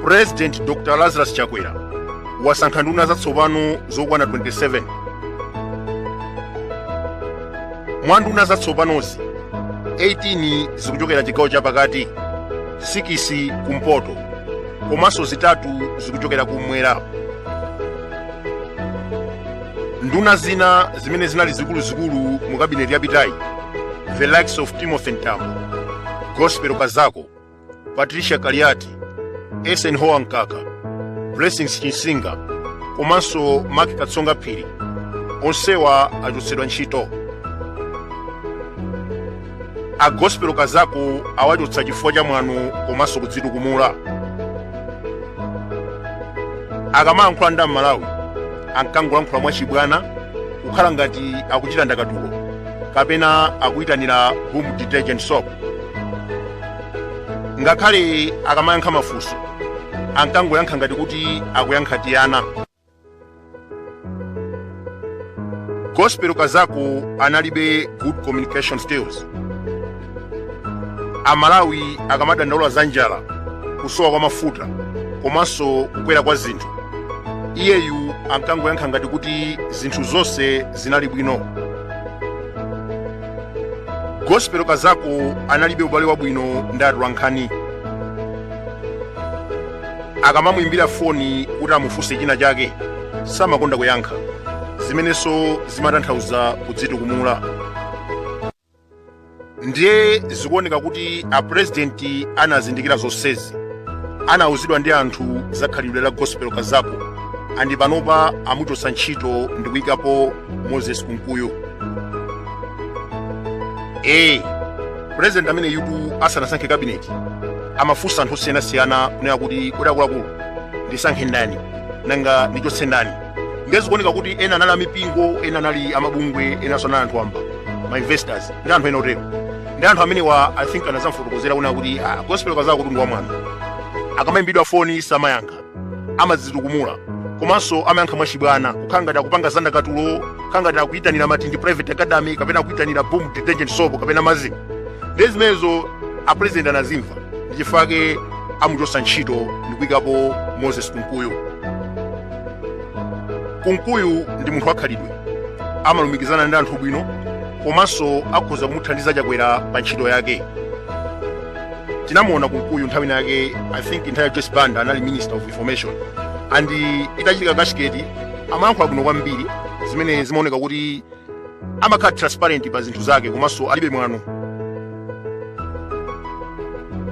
purezidenti dr lazarus chakwera wasankha nduna zatsopano zokwana 27 mwa nduna zatsopanozi 18 zikuchokera chigawo chapakati sikisi kumpoto komanso zitatu zikuchokera kum'mwera nduna zina zimene zinali zikuluzikulu mu kabineti yapitayi the likes of timothy ntambo gospel kazako patricia kaliati eisenhower mkaka blessings chinsinga komanso mark katsonga phiri onsewa achotsedwa ntchito a gospel kazako awachotsa chifukwa cha mwano komanso kudzitukumula akamayankhula ndi amalawi ankangolankhula mwachibwana kukhala ngati akuchita ndakatulo kapena akuyitanira boom detergent soap ngakhale akamayankha mafunso ankangoyankha ngati kuti akuyankha tiana gospel kazako analibe good communication skills amalawi akamadandaula za njala kusowa kwa mafuta komanso kukwera kwa zinthu iyeyu ankangoyankha ngati kuti zinthu zonse zinali bwino gospel kazako analibe ubale wabwino ndi atolankhani akamamuimbira foni kuti amufunse china chake samakonda kuyankha zimenenso zimatanthauza kudzitukumula ndiye zikuoneka kuti apurezidenti anazindikira zonsezi anauzidwa ndi anthu za khalidwe la gospel kazako andi panopa amuchotsa ntchito ndi kuyikapo moses kunkuyu ee pulezidenti amene yutu asanasankhe kabineti amafunsa anthu osiyanasiyana kunena kuti kodi akuluakulu ndisankhe ndani nanga ndichotse ndani ndiye zikuoneka kuti ena anali amipingo ena anali amabungwe enanso anali anthu wamba ma investors ndi anthu ena otero ndi anthu amenewa i think anazamfotokozera kunena kuti ah, gospel kazako kuti ndi wamwano akamayimbidwa foni samayankha amadzitukumula komanso amayankha mwachibwana kukhala ngati akupanga za ndakatulo kukhala ngati akuyitanira matindi private academy kapena akuyitanira boom detergent soap kapena maziko ndiye zimenezo apresident anazimva ndi chifukwa chake amuchotsa ntchito ndi kuyikapo moses kunkuyu kunkuyu ndi munthu wakhalidwe amalumikizana ndi anthu bwino komanso akhoza kumuthandiza chakwera pa ntchito yake tinamuona kunkuyu nthawi ina yake i think nthawi ya joyce banda anali minister of information and itachitika cashgate amayankhula bwino kwambiri zimene zimaoneka kuti amakhala transparent pa zinthu zake komanso alibe mwano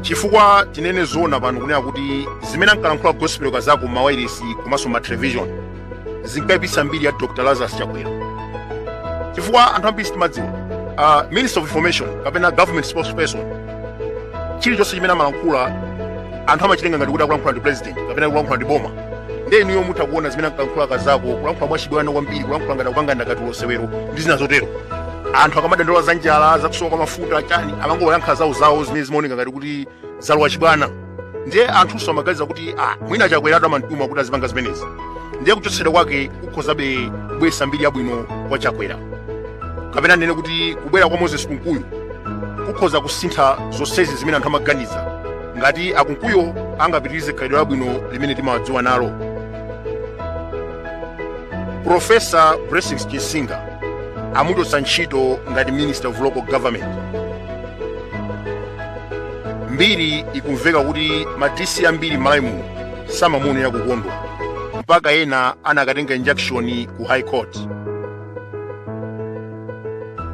chifukwa tinene zoona pano kunena kuti zimene ankalankhula gospel kazako mawairesi komanso matelevision zinkayipisa mbiri ya dr lazarus chakwera chifukwa anthu ambiri sitimadziwa uh, minister of information kapena government spokesperson chilichonse chimene amalankhula anthu amachitenga ngati kuti akulankhula ndi president kapena akulankhula ndi boma ndiye inuyo mutha kuona zimene ankalankhula kazako kulankhula mwachibwana kwambiri kulankhula ngati akupanga ndakatulo sewero ndi zina zotero anthu akamadandaula za njala zakusowa kwa mafuta chani amangoyankha zawo zawo zimene zimaoneka ngati kuti zalowa chibwana ndiye anthunso amaganiza kuti ah, mwina chakwera amamtuma kuti azipanga zimenezi ndiye kuchotsedwa kwake kukhozabe kubwesa mbiri yabwino kwa chakwera kapena ndinene kuti kubwera kwa moses kunkuyu kukhoza kusintha zonsezi zimene anthu amaganiza ngati akunkuyo angapitirize khalidwe labwino limene timawadziwa nalo profesa blessings chinsinga amuchotsa ntchito ngati minister of local government mbiri ikumveka kuti ma dc ambiri m'malawi muno samamuonera kukondwa mpaka ena anakatenga injunction ku high court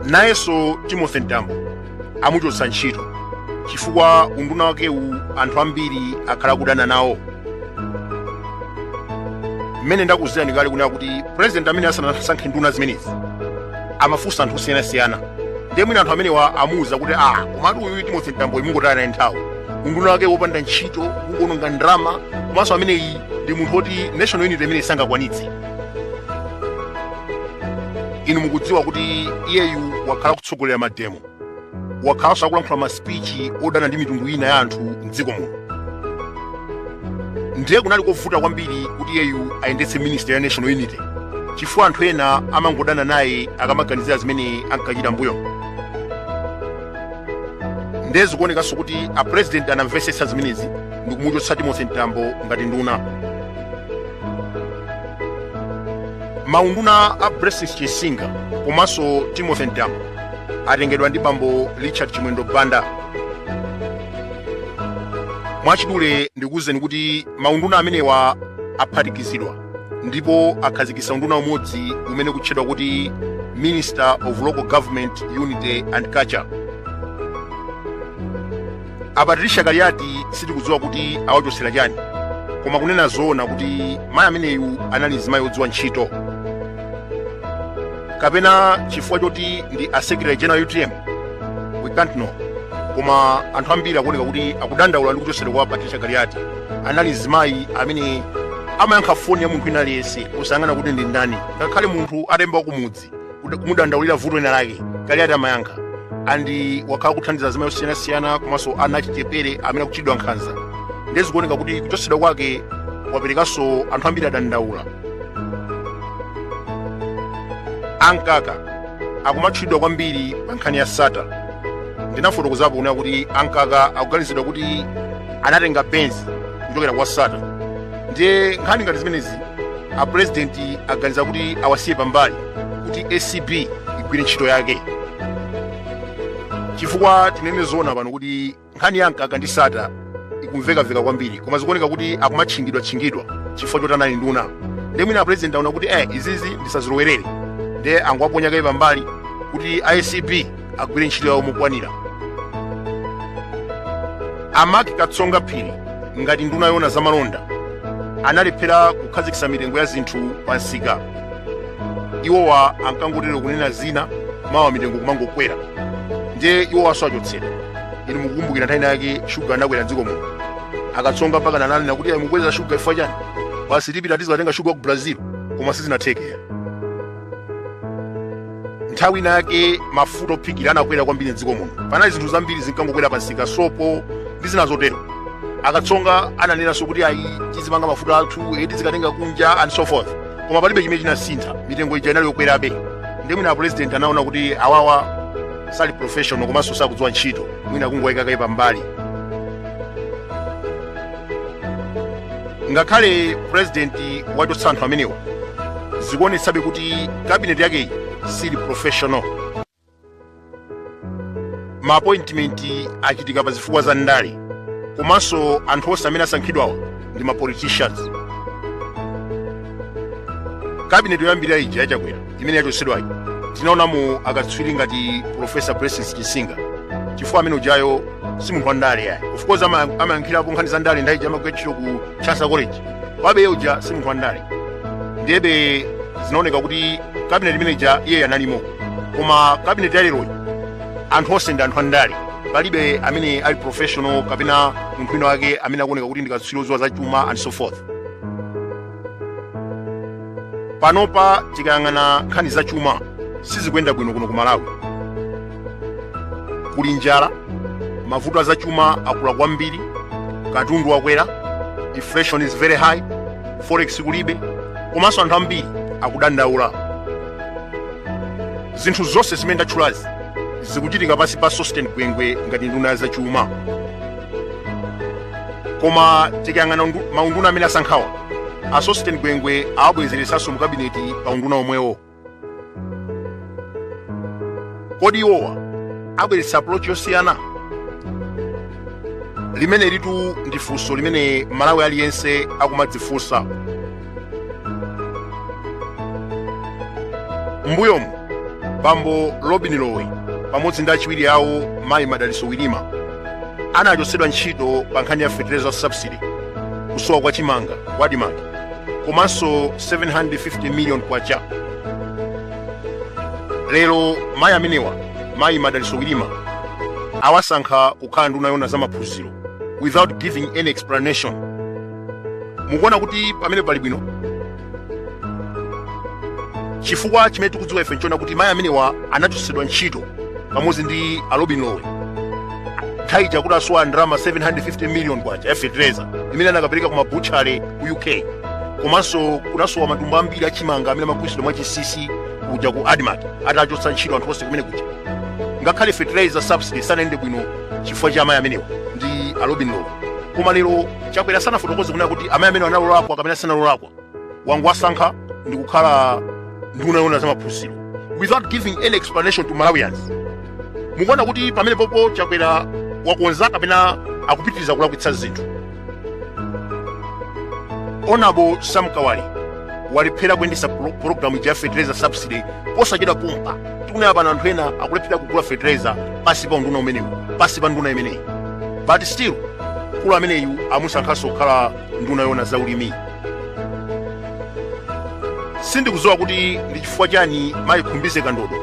nayenso timothy mtambo amuchotsa ntchito chifukwa unduna wakewu anthu ambiri akhala akudana nawo mmene ndakuwuzirani kale kunena kuti president amene asanasankhe nduna zimenezi amafunsa anthu osiyanasiyana ndiye mwina anthu amenewa amuwuza kuti a komatu uyu timothy mtamboyu mungotaya naye nthawi unduna wake wopanda ntchito kungononga ndalama komanso ameneyi ndi munthu woti national unity imene sangakwanitse inu mukudziwa kuti iyeyu wakhala kutsogolera mademo wakhalanso akulankhula masipichi odana ndi mitundu ina ya anthu mdziko muno ndiye kunali kovuta kwambiri kuti iyeyu ayendetse ministry ya national unity chifukwa anthu ena amangodana naye akamaganizira zimene ankachita mbuyo ndiye zikuonekanso kuti a president anamvetsetsa zimenezi ndikumuchotsa timothy mtambo ngati nduna maunduna a Blessings Chinsinga komanso Timothy Mtambo atengedwa ndi bambo Richard Chimwendo Banda. Mwachidule ndikuwuzeni kuti maunduna amenewa aphatikizidwa ndipo akhazikitsa unduna umodzi umene ukutchedwa kuti Minister of Local Government Unity and Culture. a patricia kaliati sitikudziwa kuti awachotsera chani koma kunena zoona kuti mayi ameneyu anali mzimayi wodziwa ntchito kapena chifukwa choti ndi a secretary general utm we can't know koma anthu ambiri akuoneka kuti akudandaula ndi kuchotsedwa kwa a patricia kaliati anali mzimayi amene amayankha foni ya munthu wina aliyense osayang'ana kuti ndi ndani ngakhale munthu atayimba wakumudzi kuda- kumudandaulira vuto lina lake kaliati amayankha andi wakhala kuthandiza azimayi osiyanasiyana komanso ana achichepere amene akuchitidwa nkhanza ndiye zikuoneka kuti kuchotsedwa kwake kwaperekanso anthu ambiri adandaula a mkaka akumatchulidwa kwambiri pa nkhani ya sattar ndinafotokozapo kunena kuti a mkaka akuganizidwa kuti anatenga benzi kuchokera kwa sattar ndiye nkhani ngati zimenezi apurezidenti aganiza kuti awasiye pambali kuti acb igwire ntchito yake chifukwa tinene zoona pano kuti nkhani ya mkaka ndi sattar ikumvekaveka kwambiri koma zikuoneka kuti akumatchingidwatchingidwa chifukwa choti anali nduna ndiye mwina apurezidenti aona kuti eh izizi ndisazilowerere ndiye angowaponya kaye pambali kuti acb agwire ntchito yawo mokwanira a mark katsonga phiri ngati nduna yoona za malonda analephera kukhazikitsa mitengo ya zinthu pa msika iwowa ankangotero kunena zina mawa mitengo kumangokwera ndiye iwowanso achotsedwa inu mukukumbukira nthawi inayake shuga anakwera mdziko muno akatsonga mpakana ananena kuti ayi mukweza shuga chifukwa chani basi tipita tizatenga shuga ku brazil koma sizinatheke ayi nthawi inayake mafuta ophikira anakwera kwambiri mdziko muno panali zinthu zambiri zinkangokwera pansika sopo ndi zina zotero akatsonga ananenanso kuti ayi tizipanga mafuta athu tizikatenga kunja and so forth koma palibe chimene chinasintha mitengo ija inali yokwerabe ndiye mwina apulezidenti anaona kuti awawa sali professional komanso sakudziwa ntchito mwina kungowayika kaye pambali ngakhale purezidenti wachotsa anthu amenewa zikuonetsabe kuti kabineti yakeyi sili professional ma appointment achitika pa zifukwa za ndale komanso anthu onse amene asankhidwawa ndi ma politicians kabineti yoyambirira ija ya chakwera imene yachotsedwayi tinaonamo akatswiri ngati profesa blessings chinsinga chifukwa amene ujayo si munthu wa ndale yayi of course ama- amayankhirapo nkhani za ndale nthawi ija amagwira ntchito ku chancellor college komabe uja si munthu wa ndale ndebe zinaoneka kuti kabineti imene ija iye analimo koma kabineti yaleroyi anthu onse ndi anthu andale palibe amene ali professional kapena munthu wina wake amene akuoneka kuti ndi katswiri odziwa za chuma and so forth panopa tikayang'ana nkhani za chuma sizikuyenda bwino kuno ku malawi kuli njala mavuto a za chuma akula kwambiri katundu wakwera inflation is very high forex kulibe komanso anthu ambiri akudandaula zinthu zonse zimene ndatchulazi zikuchitika pansi pa sosten gwengwe ngati nduna ya zachuma koma tikayang'ana undu- maunduna amene asankhawa a sosten gwengwe awabwezeretsanso mu kabineti pa unduna omwewo kodi iwowa abweretsa approach yosiyana limenelitu ndi funso limene mmalawi aliyense akumadzifunsa m'mbuyomu bambo lobin lowe pamodzi ndi achiwiri awo mayi madalitso wirima anachotsedwa ntchito pa nkhani ya fertilizer subsidy kusowa kwa chimanga ku admarc komanso 750 million kwacha lero mayi amenewa mayi madalitso wirima awasankha kukhala nduna yoona za maphunziro without giving any explanation mukuona kuti pamenepa pali bwino chifukwa chimene tikudziwa ife nchoona kuti mayi amenewa anachotsedwa ntchito pamodzi ndi a lobin lowe nthawi ija kuti asowa ndalama 750 million kwacha ya fetereza imene anakapereka ku mabutchala ku uk komanso kunasowa matumba ambiri achimanga amene amagulitsidwa mwa chinsinsi kuja ku admarc atawachotsa ntchito anthu onse kumenekuja ngakhale fetereza subsidy sanayende bwino chifukwa cha amayi amenewa ndi a lobin lowe koma lero chakwera sanafotokoze kunena kuti amayi amenewa anali olakwa kapena sanali olakwa wangowasankha ndi kukhala nduna yoona za maphunziro without giving any explanation to malawians mukuona kuti pamenepopo chakwera wakonza kapena akupitiriza kulakwitsa zinthu onabo sam kawale walephera kuyendetsa pro- programu ya fertilizer subsidy posachedwapompa tikunena pano anthu ena akulephera kugula fertilizer pansi pa unduna umenewu pansi pa nduna imeneyi but still mkulu ameneyu amusankhanso kukhala nduna yoona za ulimi sindikudziwa kuti ndi chifukwa chani mayi khumbize kandodo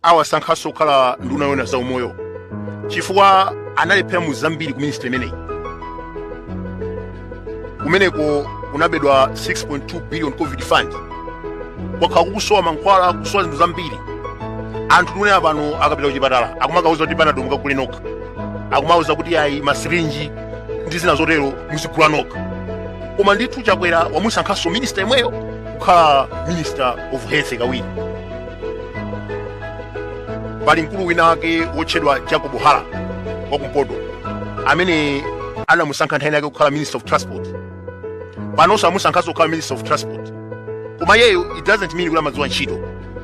awasankhanso kukhala nduna yoona za umoyo chifukwa analephera mu zambiri ku ministry imeneyi kumeneko kunabedwa 6.2 billion covid fund kwakhala kukusowa mankhwala kusowa zinthu zambiri anthu tikunena pano akapita kuchipatala akumakawauza kuti panado mukagule nokha akumawauza kuti ayi masirinji ndi zina zotero muzigula nokha koma ndithu chakwera wamusankhanso minista yemweyo kukhala minister of health kawiri pali mkulu wina wake wotchedwa jacob hara wakumpoto amene anamusankha nthawi inayake kukhala minister of transport panonso amusankhanso kukhala minister of transport koma iyeyo it doesn't mean kuti amadziwa ntchito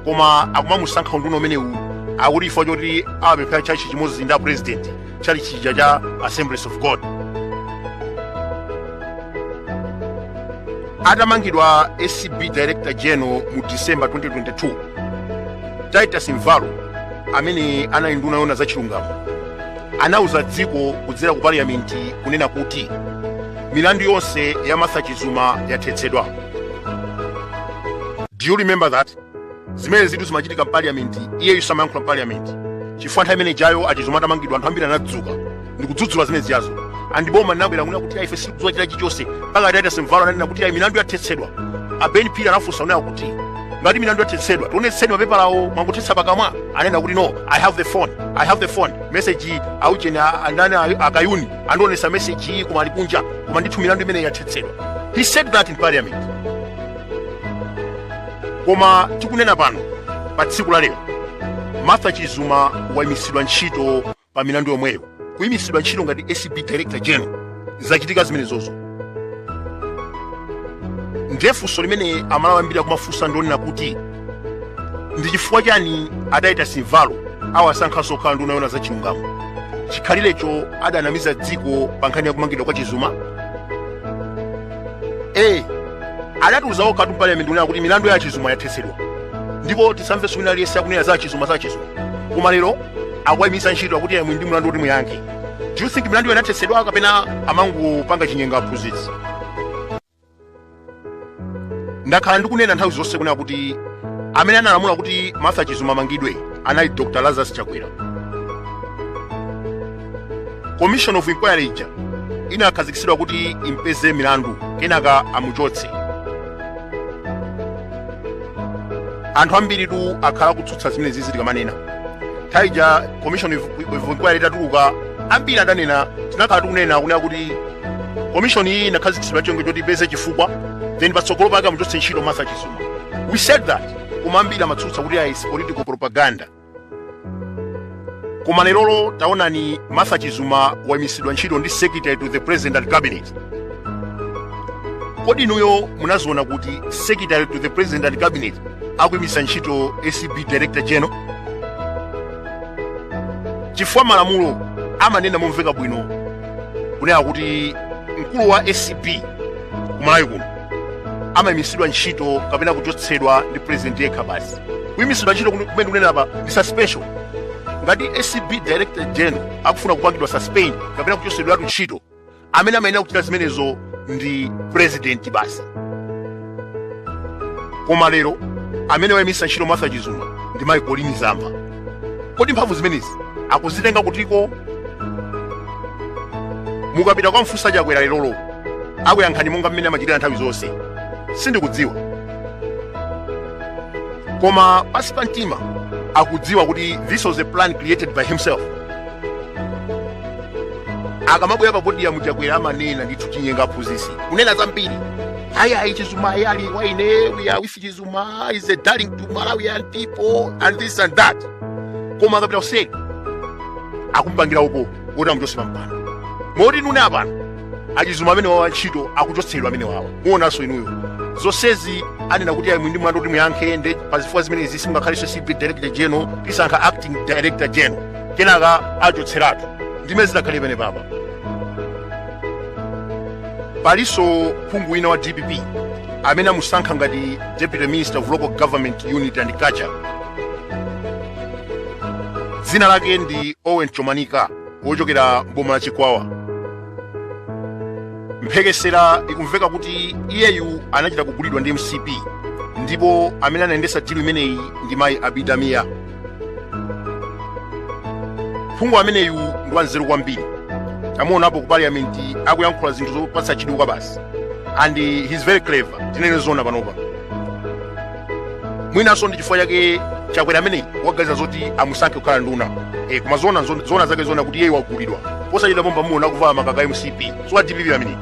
koma akumamusankha unduna umenewu akuti chifukwa choti amapemphera tchalitchi chimodzi ndi a president tchalitchi cha assemblies of god atamangidwa acb director general mu december 2022 titus mvalo amene anali nduna yoona za chilungamo anauza dziko kudzera ku parliament kunena kuti milandu yonse ya martha chizuma yathetsedwa do you remember that zimenezitu zimachitika mpaliyamenti iyeyu amayankhula mpaliyamenti chifukwa nthawi imene ijayo a chizuma atamangidwa anthu ambiri anadzuka ndikudzudzula zimenezijazo and boma linabwera kunena kuti ayi ife sitikudziwa china chilichonse mpaka a titus mvalo ananena kuti ayi milandu yathetsedwa a ben phiri anafunsa kunena kuti ngati milandu yathetsedwa tionetseni mapepalawo mwangothetsa pakamwa ananena kuti no i have the phone i have the phone message aujeni andani a kayuni andionesa message iyi koma ali kunja koma ndithu milandu imeneyi yathetsedwa he said that in parliament koma tikunena pano pa tsiku la lero martha chizuma wayimitsidwa ntchito pa milandu yomweyo kuyimitsidwa ntchito ngati acb director general zachitika zimenezozo ndiye funso limene amalawi ambiri akumafunsa ndi lonena kuti ndi chifukwa chiyani a titus mvalo awasankhanso kukhala nduna yoona za chilungamo chikhalirecho adanamiza dziko pa nkhani ya kumangidwa kwa chizuma ee adatiuza okhatu mpaliyamenti kunena kuti milandu ya a chizuma yathetsedwa ndipo tisamvenso wina aliyense akunena za a chizuma za a chizuma koma lero akuwayimitsa ntchito akuti ayi muli ndi mlandu woti muyankhe do you think milandu ijayo inathetsedwa kapena amangopanga chinyengo aphunzitsi ndakhala ndikunena nthawi zonse kunena kuti amene analamula kuti martha chizuma amangidwe anali dr lazarus chakwera commission of inquiry ija inakhazikitsidwa kuti impeze milandu kenaka amuchotse anthu ambiritu akhala akutsutsa zimenezizi tikamanena nthawi ija commission of inquiry itatuluka ambiri adanena tinakhala tikunena kunena kuti commission iyi inakhazikitsidwa n'cholinga choti ipeze chifukwa then patsogolo pake amuchotse ntchito martha chizuma we said that koma ambiri amatsutsa kuti ayi is political propaganda koma lerolo taonani martha chizuma waimisidwa ntchito ndi secretary to the president and cabinet kodi inuyo munaziona kuti secretary to the president and cabinet akuimisa ntchito acb director general chifukwa malamulo amanena momveka bwino kunena kuti mkulu wa acb kumalawi kuno amaimisidwa ntchito kapena kuchotsedwa ndi president yekha basi kuimisidwa ntchito kumene ndikunena apa ndi suspension ngati acb director general akufuna kupangidwa suspend kapena kuchotsedweratu ntchito amene amayenera kuchita zimenezo ndi president basi koma lero amene waimisa ntchito martha chizuma ndi mayi colleen zamba kodi mphamvu zimenezi akuzitenga kutiko mukapita kukamfusa chakwera lerolo akuyankhani monga mmene amachitira nthawi zonse sindikudziwa koma pansi pa mtima akudziwa kuti this was a plan created by himself akamabwera pa podium chakwera amanena ndithu chinyenga aphunzisi kunena zambiri ayi ayi chizuma ayi ali wa ine we are with chizuma zuma is a darling to malawian people and this and that koma akapita kuseri akumpangira upo kuti amuchotse pampando moti nunena apano achizuma amene wawa ntchito akuchotsedwa amene wawa muonanso inuyo zonsezi anena kuti ayi muli ndi mlandu woti muyankhe nde pa zifukwa zimenezi simungakhalenso acb director general tisankha acting director general kenaka achotseratu ndimmene zinakhalira pamene papa palinso phungu wina wa dpp amene amusankha ngati deputy minister of local government unity and culture dzina lake ndi owen chomanika wochokera mboma la chikwawa mphekesera ikumveka kuti iyeyu anachita kugulidwa ndi mcp ndipo amene anayendesa dilu imeneyi ndi mayi abida mia phungu ameneyu ndi wanzeru kwambiri tamuonapo ku parliament akuyankhula zinthu zopatsa chidwi kwabasi and he's very clever tinene zona panopa mwinanso ndi chifukwa chake chakwera ameneyi waganizira zoti amusankhe kukhala nduna e, koma zona zon- zona zake zona kuti iyeyu wagulidwa posachedwa pompa mumuona akuvala makaka a mcp si wa dpp ameneyi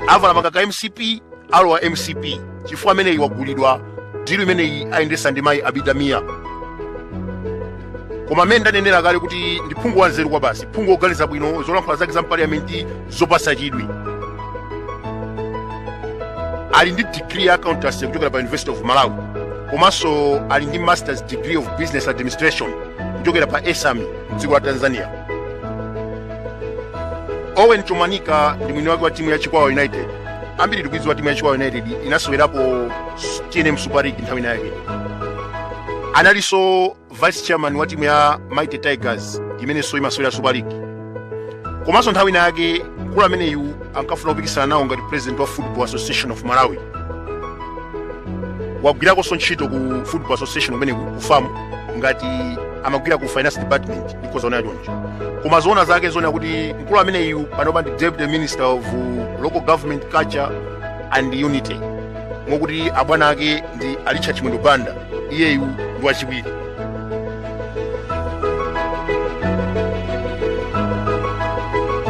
avala makaka a mcp alowa mcp chifukwa ameneyi wagulidwa dilu imeneyi ayendesa ndi mayi abida mia koma mmene ndanenera kale kuti ndi phungu wanzeru kwabasi phungu woganiza bwino zolankhula zake za mpaliyamenti zopasa chidwi ali ndi degree ya accountancy kuchokera pa university of malawi komanso ali ndi masters degree of business administration kuchokera pa esami mdziko la tanzania owen chomanika ndi mwini wake wa timu ya chikwawa united ambiri tikuidziwa timu ya chikwawa united inasewerapo s- tnm super league nthawi ina yake analinso vice chairman wa timu ya mighty tigers imenenso imasewera super league komanso nthawi ina yake mkulu ameneyu ankafuna kupikisana nawo ngati president wa football association of malawi wagwirakonso ntchito ku football association kumeneku ku fam ngati amagwira ku finance department ndikhoza kunena choncho koma zoona zake zonena kuti mkulu ameneyu panopa ndi deputy minister of local government culture and unity mokuti abwana ake ndi a richard chimwendo banda iyeyu ndi wachiwiri